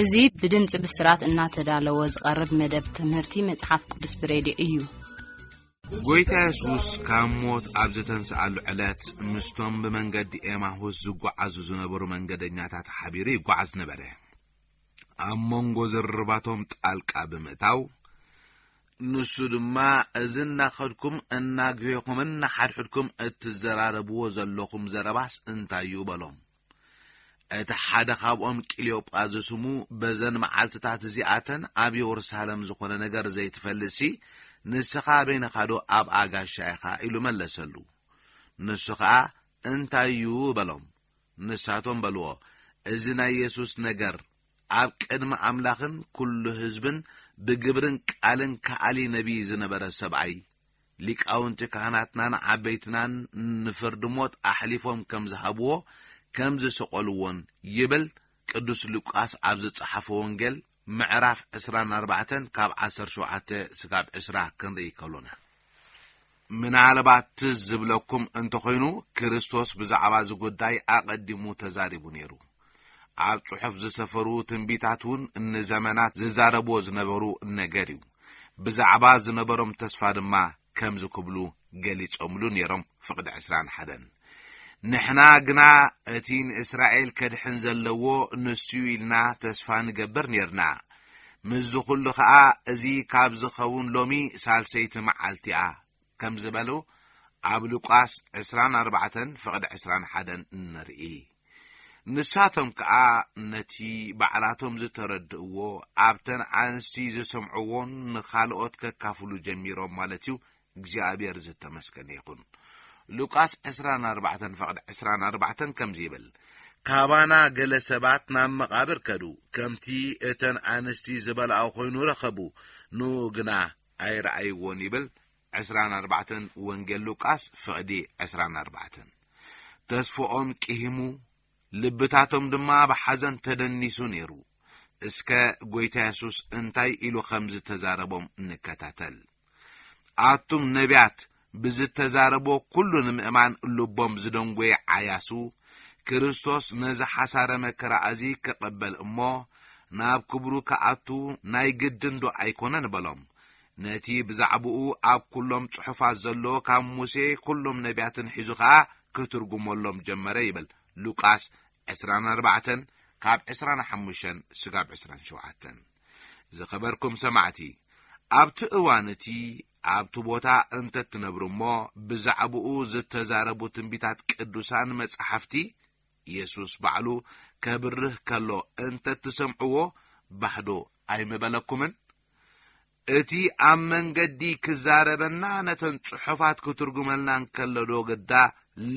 እዚ ብድምፂ ብስራት እናተዳለወ ዝቐርብ መደብ ትምህርቲ መጽሓፍ ቅዱስ ብሬድዮ እዩ። ጐይታ የሱስ ካብ ሞት ኣብ ዝተንስኣሉ ዕለት ምስቶም ብመንገዲ ኤማሁስ ዝጓዓዙ ዝነበሩ መንገደኛታት ሓቢሩ ይጓዓዝ ነበረ። ኣብ መንጎ ዝርርባቶም ጣልቃ ብምእታው ንሱ ድማ እዚ እናኸድኩም እናግሄኹምን ንሓድሕድኩም እትዘራረብዎ ዘለኹም ዘረባስ እንታይ እዩ በሎም። እቲ ሓደ ኻብኦም ቂልዮጳ ዝስሙ፣ በዘን መዓልትታት እዚኣተን ኣብ የሩሳለም ዝዀነ ነገር ዘይትፈልጥሲ፣ ንስኻ በይንኻዶ ኣብ ኣጋሻ ኢኻ? ኢሉ መለሰሉ። ንሱ ኸኣ፣ እንታይ እዩ? በሎም። ንሳቶም በልዎ፣ እዚ ናይ የሱስ ነገር፣ ኣብ ቅድሚ ኣምላኽን ኵሉ ህዝብን ብግብርን ቃልን ከኣሊ ነብዪ ዝነበረ ሰብኣይ፣ ሊቃውንቲ ካህናትናን ዓበይትናን ንፍርዲ ሞት ኣሕሊፎም ከም ዝሃብዎ ከም ዝሰቀልዎን ይብል ቅዱስ ሉቃስ ኣብ ዝጸሓፎ ወንጌል ምዕራፍ ዕስራን ኣርባዕተን ካብ ዓሰርተ ሸውዓተ ስጋብ ዕስራ ክንርኢ ከሎና ምናልባት ትዝ ዝብለኩም እንተኾይኑ ክርስቶስ ብዛዕባ እዚ ጉዳይ ኣቐዲሙ ተዛሪቡ ነይሩ። ኣብ ጽሑፍ ዝሰፈሩ ትንቢታት እውን ንዘመናት ዝዛረብዎ ዝነበሩ ነገር እዩ። ብዛዕባ ዝነበሮም ተስፋ ድማ ከምዚ ክብሉ ገሊጾምሉ ነይሮም፣ ፍቕዲ ዕስራን ሓደን፣ ንሕና ግና እቲ ንእስራኤል ከድሕን ዘለዎ ንሱ እዩ ኢልና ተስፋ ንገብር ኔርና፣ ምስዚ ዅሉ ኸኣ እዚ ካብ ዝኸውን ሎሚ ሳልሰይቲ መዓልቲ እያ ከም ዝበሉ ኣብ ሉቃስ ዕስራን ኣርባዕተን ፍቕዲ ዕስራን ሓደን እንርኢ። ንሳቶም ከኣ ነቲ ባዕላቶም ዝተረድእዎ ኣብተን ኣንስቲ ዝሰምዕዎን ንኻልኦት ከካፍሉ ጀሚሮም ማለት እዩ እግዚኣብሔር ዝተመስገነ ይኹን። ሉቃስ ዕስራን ኣርባዕተን ፍቕዲ ዕስራን ኣርባዕተን ከምዚ ይብል ካባና ገለ ሰባት ናብ መቓብር ከዱ ከምቲ እተን ኣንስቲ ዝበልኣኦ ኮይኑ ረኸቡ ንኡ ግና ኣይረኣይዎን ይብል ዕስራን ኣርባዕተን ወንጌል ሉቃስ ፍቕዲ ዕስራን ኣርባዕተን። ተስፎኦም ቂሂሙ ልብታቶም ድማ ብሓዘን ተደኒሱ ነይሩ። እስከ ጎይታ የሱስ እንታይ ኢሉ ኸም ዝተዛረቦም ንከታተል። ኣቱም ነብያት ብዝተዛረቦ ኩሉ ንምእማን ልቦም ዝደንጎየ ዓያሱ፣ ክርስቶስ ነዚ ሓሳረ መከራ እዚ ክቐበል እሞ ናብ ክብሩ ክኣቱ ናይ ግድንዶ ኣይኮነን በሎም። ነቲ ብዛዕባኡ ኣብ ኩሎም ጽሑፋት ዘሎ ካብ ሙሴ ኩሎም ነብያትን ሒዙ ከኣ ክትርጉመሎም ጀመረ ይብል ሉቃስ ዕስራን ኣርባዕተን ካብ ዕስራን ሓሙሸን ስጋብ ዕስራን ሸውዓተን። ዝኸበርኩም ሰማዕቲ ኣብቲ እዋን እቲ ኣብቲ ቦታ እንተ ትነብሩ እሞ ብዛዕባኡ ዝተዛረቡ ትንቢታት ቅዱሳን መጻሕፍቲ፣ የሱስ ባዕሉ ከብርህ ከሎ እንተ ትሰምዕዎ ባህዶ ኣይምበለኩምን? እቲ ኣብ መንገዲ ክዛረበና ነተን ጽሑፋት ክትርጉመልና እንከሎዶ ግዳ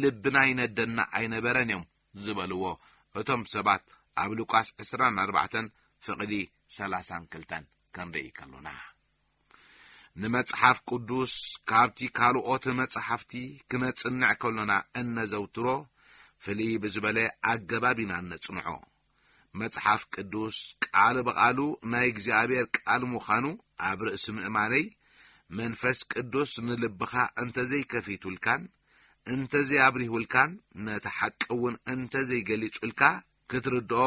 ልብና ይነደና ኣይነበረን እዮም ዝበልዎ እቶም ሰባት ኣብ ሉቃስ ዕስራን ኣርባዕተን ፍቕዲ ሰላሳን ክልተን ክንርኢ ከሎና። ንመጽሓፍ ቅዱስ ካብቲ ካልኦት መጻሕፍቲ ክነጽንዕ ከሎና እነዘውትሮ ፍልይ ብዝበለ ኣገባብ ኢና እነጽንዖ። መጽሓፍ ቅዱስ ቃል ብቓሉ ናይ እግዚኣብሔር ቃል ምዃኑ ኣብ ርእሲ ምእማነይ መንፈስ ቅዱስ ንልብኻ እንተዘይከፊቱልካን እንተዘይኣብሪሁልካን ነቲ ሓቂ እውን እንተዘይገሊጹልካ ክትርድኦ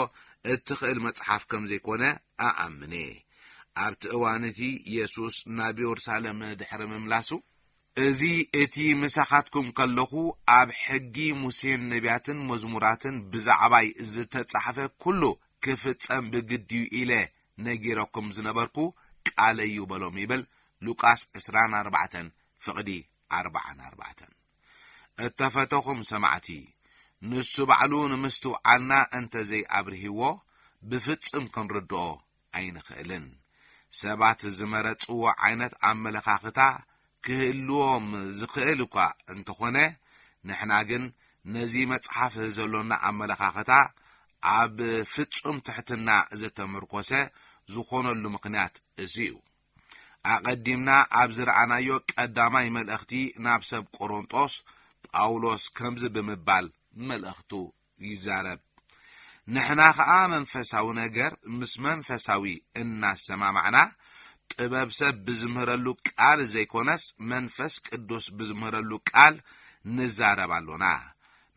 እትኽእል መጽሓፍ ከም ዘይኰነ እኣምን እየ። ኣብቲ እዋን እቲ የሱስ ናብ የሩሳሌም ድሕሪ ምምላሱ፣ እዚ እቲ ምሳኻትኩም ከለኹ ኣብ ሕጊ ሙሴን ነብያትን መዝሙራትን ብዛዕባይ ዝተጻሕፈ ኵሉ ክፍጸም ብግዲ እዩ ኢለ ነጊረኩም ዝነበርኩ ቃለይ እዩ በሎም ይብል፣ ሉቃስ ዕስራን ኣርባዕተን ፍቕዲ ኣርባዓን ኣርባዕተን። እተፈተኹም ሰማዕቲ፣ ንሱ ባዕሉ ንምስትውዓልና እንተ ዘይኣብርሂዎ ብፍጽም ክንርድኦ ኣይንኽእልን። ሰባት ዝመረጽዎ ዓይነት ኣመለኻኽታ ክህልዎም ዝኽእል እኳ እንተ ኾነ፣ ንሕና ግን ነዚ መጽሓፍ ዘሎና ኣመለኻኽታ ኣብ ፍጹም ትሕትና ዝተመርኰሰ ዝኾነሉ ምኽንያት እዚ'ዩ። ኣቐዲምና ኣብ ዝረኣናዮ ቀዳማይ መልእኽቲ ናብ ሰብ ቈረንጦስ፣ ጳውሎስ ከምዚ ብምባል መልእኽቱ ይዛረብ፣ ንሕና ኸኣ መንፈሳዊ ነገር ምስ መንፈሳዊ እናሰማማዕና፣ ጥበብ ሰብ ብዝምህረሉ ቃል ዘይኰነስ መንፈስ ቅዱስ ብዝምህረሉ ቃል ንዛረብ ኣሎና።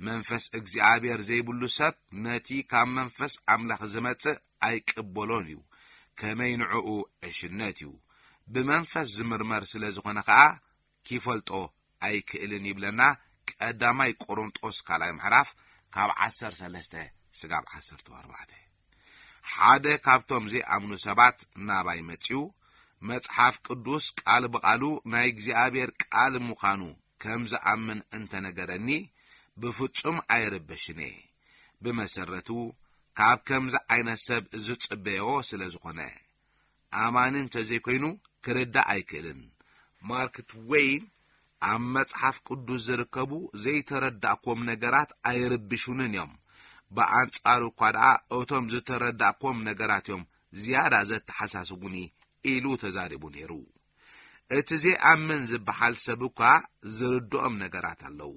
መንፈስ እግዚኣብሔር ዘይብሉ ሰብ ነቲ ካብ መንፈስ ኣምላኽ ዝመጽእ ኣይቅበሎን እዩ፣ ከመይ ንዕኡ ዕሽነት እዩ፣ ብመንፈስ ዝምርመር ስለ ዝዀነ ኸኣ ኪፈልጦ ኣይክእልን ይብለና ቀዳማይ ቈረንጦስ ካልኣይ ምዕራፍ ካብ ዓሰርተ ሰለስተ ስጋብ ዓሰርተ ኣርባዕተ። ሓደ ካብቶም ዘይኣምኑ ሰባት ናባይ መጺኡ መጽሓፍ ቅዱስ ቃል ብቓሉ ናይ እግዚኣብሔር ቃል ምዃኑ ከም ዝኣምን እንተ ነገረኒ ብፍጹም ኣይርበሽን እየ። ብመሰረቱ ካብ ከምዚ ዓይነት ሰብ ዝጽበዮ ስለ ዝኾነ። ኣማኒ እንተዘይኮይኑ ክርዳእ ኣይክእልን። ማርክ ትወይን ኣብ መጽሓፍ ቅዱስ ዝርከቡ ዘይተረዳእክዎም ነገራት ኣይርብሹንን እዮም። ብኣንጻሩ እኳ ደኣ እቶም ዝተረዳእክዎም ነገራት እዮም ዝያዳ ዘተሓሳስቡኒ ኢሉ ተዛሪቡ ነይሩ። እቲ ዘይኣምን ዝበሃል ሰብ እኳ ዝርድኦም ነገራት ኣለዉ።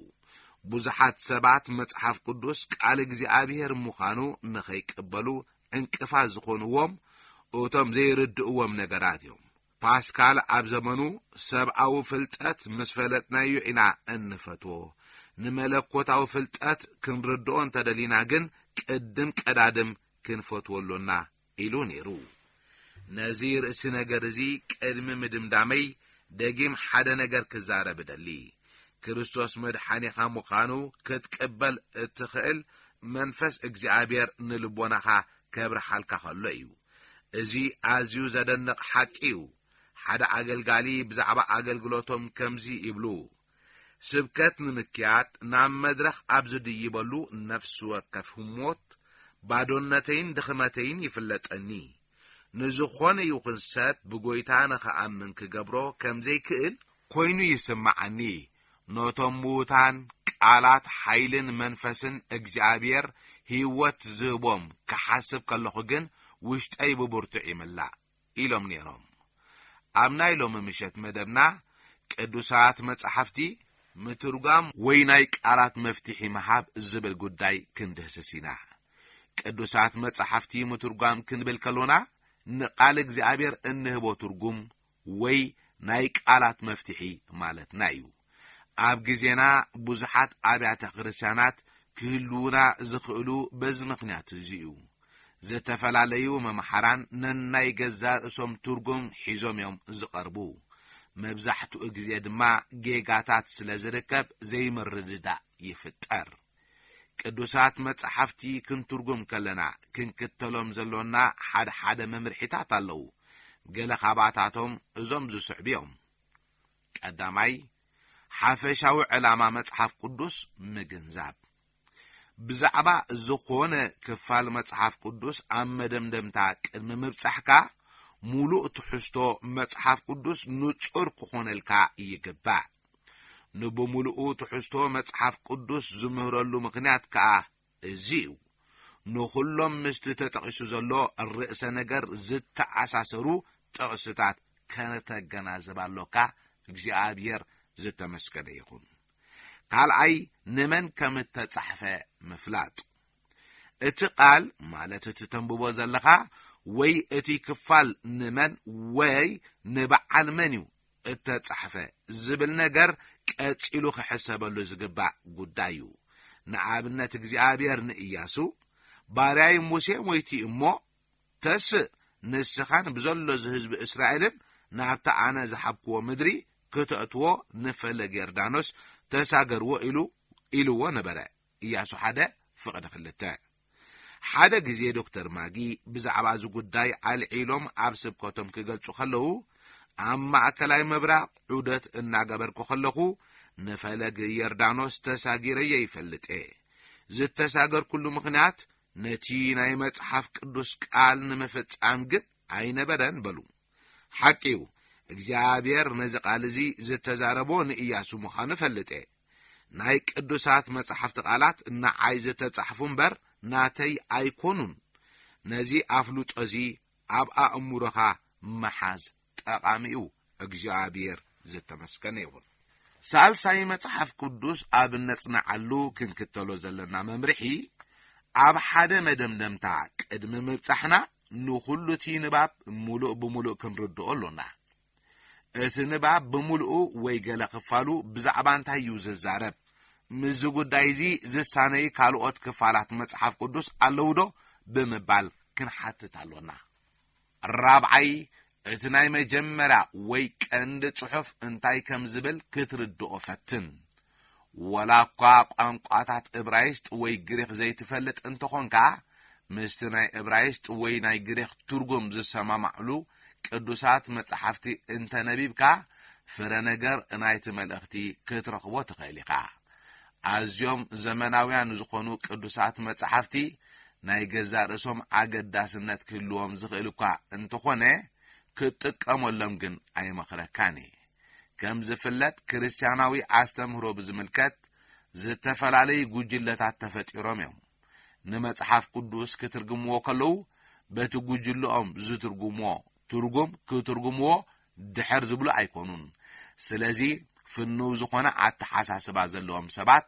ብዙሓት ሰባት መጽሓፍ ቅዱስ ቃል እግዚኣብሄር ምዃኑ ንኸይቅበሉ ዕንቅፋት ዝዀንዎም እቶም ዘይርድእዎም ነገራት እዮም። ፓስካል ኣብ ዘመኑ፣ ሰብኣዊ ፍልጠት ምስ ፈለጥናዮ ኢና እንፈትዎ፣ ንመለኮታዊ ፍልጠት ክንርድኦ እንተ ደሊና ግን ቅድም ቀዳድም ክንፈትዎ ኣሎና ኢሉ ነይሩ። ነዚ ርእሲ ነገር እዚ ቅድሚ ምድምዳመይ ደጊም ሓደ ነገር ክዛረብ እደሊ። ክርስቶስ መድሓኒኻ ምዃኑ ክትቅበል እትኽእል መንፈስ እግዚኣብሔር ንልቦናኻ ከብርሃልካ ከሎ እዩ። እዚ ኣዝዩ ዘደንቕ ሓቂ እዩ። ሓደ ኣገልጋሊ ብዛዕባ ኣገልግሎቶም ከምዚ ይብሉ፣ ስብከት ንምክያድ ናብ መድረኽ ኣብ ዝድይበሉ ነፍሲ ወከፍ ህሞት፣ ባዶነተይን ድኽመተይን ይፍለጠኒ። ንዝኾነ ይኹን ሰብ ብጎይታ ንኽኣምን ክገብሮ ከም ዘይክእል ኮይኑ ይስምዓኒ። ነቶም ምዉታን ቃላት ሓይልን መንፈስን እግዚኣብሔር ህይወት ዝህቦም ክሓስብ ከለኹ ግን ውሽጠይ ብብርቱዕ ይምላእ። ኢሎም ነይሮም። ኣብ ናይ ሎሚ ምሸት መደብና ቅዱሳት መጻሕፍቲ ምትርጓም ወይ ናይ ቃላት መፍትሒ ምሃብ ዝብል ጉዳይ ክንድህስስ ኢና። ቅዱሳት መጻሕፍቲ ምትርጓም ክንብል ከሎና ንቃል እግዚኣብሔር እንህቦ ትርጉም ወይ ናይ ቃላት መፍትሒ ማለትና እዩ። ኣብ ግዜና ብዙሓት ኣብያተ ክርስቲያናት ክህልዉና ዝኽእሉ በዚ ምኽንያት እዚ እዩ። ዝተፈላለዩ መምሓራን ነናይ ገዛእ ርእሶም ትርጉም ሒዞም እዮም ዝቐርቡ። መብዛሕትኡ ግዜ ድማ ጌጋታት ስለ ዝርከብ ዘይምርድዳእ ይፍጠር። ቅዱሳት መጻሕፍቲ ክንትርጉም ከለና ክንክተሎም ዘሎና ሓድሓደ መምርሒታት ኣለዉ። ገለ ካባታቶም እዞም ዝስዕቡ እዮም። ቀዳማይ፣ ሓፈሻዊ ዕላማ መጽሓፍ ቅዱስ ምግንዛብ። ብዛዕባ ዝኾነ ክፋል መጽሓፍ ቅዱስ ኣብ መደምደምታ ቅድሚ ምብጻሕካ፣ ሙሉእ ትሕዝቶ መጽሓፍ ቅዱስ ንጹር ክኾነልካ ይግባእ። ንብሙሉኡ ትሕዝቶ መጽሓፍ ቅዱስ ዝምህረሉ ምኽንያት ከኣ እዚ እዩ ንኹሎም ምስቲ ተጠቒሱ ዘሎ ርእሰ ነገር ዝተኣሳሰሩ ጥቕስታት ከተገናዝብ ኣሎካ፣ እግዚኣብሔር ዝተመስገነ ይኹን። ካልኣይ ንመን ከም እተጻሕፈ ምፍላጥ። እቲ ቃል ማለት እቲ ተንብቦ ዘለኻ ወይ እቲ ክፋል ንመን ወይ ንበዓል መን እዩ እተጻሕፈ ዝብል ነገር ቀጺሉ ክሕሰበሉ ዝግባእ ጉዳይ እዩ። ንኣብነት እግዚኣብሔር ንእያሱ፣ ባርያይ ሙሴ ሞይቲ እሞ፣ ተስእ ንስኻን ብዘሎ እዚ ህዝቢ እስራኤልን ናብቲ ኣነ ዝሃብክዎ ምድሪ ክተእትዎ ንፈለግ የርዳኖስ ተሳገርዎ ኢሉ ኢልዎ ነበረ፣ እያሱ ሓደ ፍቕዲ ክልተ። ሓደ ግዜ ዶክተር ማጊ ብዛዕባ እዚ ጉዳይ ኣልዒሎም ኣብ ስብከቶም ክገልጹ ከለዉ ኣብ ማእከላይ ምብራቕ ዑደት እናገበርኩ ከለኹ ንፈለግ የርዳኖስ ተሳጊረዮ ይፈልጥ እየ ዝተሳገርኩሉ ምኽንያት ነቲ ናይ መጽሓፍ ቅዱስ ቃል ንምፍጻም ግን ኣይነበረን በሉ ሓቂ እዩ እግዚኣብሔር ነዚ ቃል እዚ ዝተዛረቦ ንእያሱ ምዃኑ እፈልጥ እየ ናይ ቅዱሳት መጻሕፍቲ ቓላት ንዓይ ዝተጻሕፉ እምበር ናተይ ኣይኰኑን። ነዚ ኣፍልጦ እዚ ኣብ ኣእምሮኻ ምሓዝ ጠቓሚ እዩ። እግዚኣብሔር ዝተመስገነ ይኹን። ሳልሳይ መጽሓፍ ቅዱስ ኣብ እነጽንዓሉ ክንክተሎ ዘለና መምርሒ፣ ኣብ ሓደ መደምደምታ ቅድሚ ምብጻሕና ንዅሉ እቲ ንባብ ምሉእ ብምሉእ ክንርድኦ ኣሎና። እቲ ንባብ ብምሉኡ ወይ ገለ ክፋሉ ብዛዕባ እንታይ እዩ ዚዛረብ? ምስዚ ጕዳይ እዚ ዚሳነይ ካልኦት ክፋላት መጽሓፍ ቅዱስ ኣለዉዶ? ብምባል ክንሓትት ኣሎና። ራብዓይ፣ እቲ ናይ መጀመርያ ወይ ቀንዲ ጽሑፍ እንታይ ከም ዚብል ክትርድኦ ፈትን። ወላ እኳ ቋንቋታት እብራይስጥ ወይ ግሪኽ ዘይትፈልጥ እንተ ዀንካ፣ ምስቲ ናይ እብራይስጥ ወይ ናይ ግሪኽ ትርጕም ዚሰማማዕሉ ቅዱሳት መጻሕፍቲ እንተ ነቢብካ፣ ፍረ ነገር ናይቲ መልእኽቲ ኽትረኽቦ ትኽእል ኢኻ። ኣዝዮም ዘመናውያን ዝዀኑ ቅዱሳት መጻሕፍቲ ናይ ገዛእ ርእሶም ኣገዳስነት ኪህልዎም ዚኽእል እኳ እንተ ዀነ፣ ክትጥቀመሎም ግን ኣይመኽረካን እየ። ከም ዝፍለጥ ክርስትያናዊ ኣስተምህሮ ብዝምልከት ዝተፈላለዩ ጉጅለታት ተፈጢሮም እዮም። ንመጽሓፍ ቅዱስ ክትርግምዎ ከለዉ በቲ ጉጅለኦም ዝትርጉምዎ ትርጉም ክትርጉምዎ ድሕር ዝብሉ ኣይኮኑን። ስለዚ ፍንው ዝኾነ ኣተሓሳስባ ዘለዎም ሰባት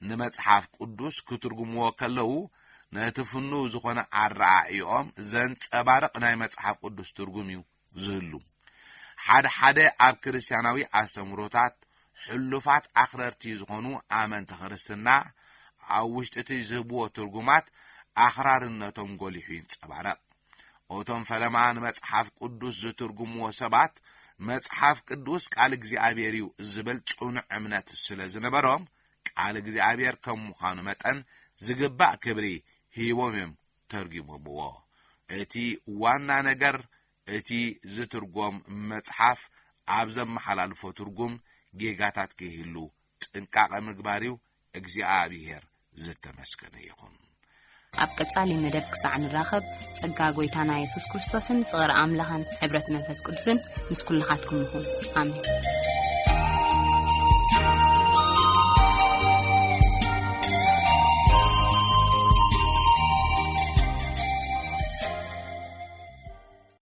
ንመጽሓፍ ቅዱስ ክትርጉምዎ ከለዉ ነቲ ፍንው ዝኾነ ኣረኣእይኦም ዘንጸባርቕ ናይ መጽሓፍ ቅዱስ ትርጉም እዩ ዝህሉ። ሓድሓደ ኣብ ክርስትያናዊ ኣስተምህሮታት ሕሉፋት ኣኽረርቲ ዝኾኑ ኣመንቲ ክርስትና ኣብ ውሽጢ እቲ ዝህብዎ ትርጉማት ኣኽራርነቶም ጎሊሑ ይንጸባረቕ። እቶም ፈለማ ንመጽሓፍ ቅዱስ ዝትርጉምዎ ሰባት መጽሓፍ ቅዱስ ቃል እግዚኣብሔር እዩ ዝብል ጽኑዕ እምነት ስለ ዝነበሮም ቃል እግዚኣብሔር ከም ምዃኑ መጠን ዝግባእ ክብሪ ሂቦም እዮም ተርጒሞምዎ። እቲ ዋና ነገር እቲ ዝትርጐም መጽሓፍ ኣብ ዘመሓላልፎ ትርጉም ጌጋታት ከይህሉ ጥንቃቐ ምግባር'ዩ፣ እግዚኣብሄር ዝተመስገነ ይኹን። ኣብ ቀጻሊ መደብ ክሳዕ ንራኸብ ጸጋ ጐይታና የሱስ ክርስቶስን ፍቕሪ ኣምላኽን ሕብረት መንፈስ ቅዱስን መንፈስን ምስ ኩልኻትኩም ይኹን ኣሜን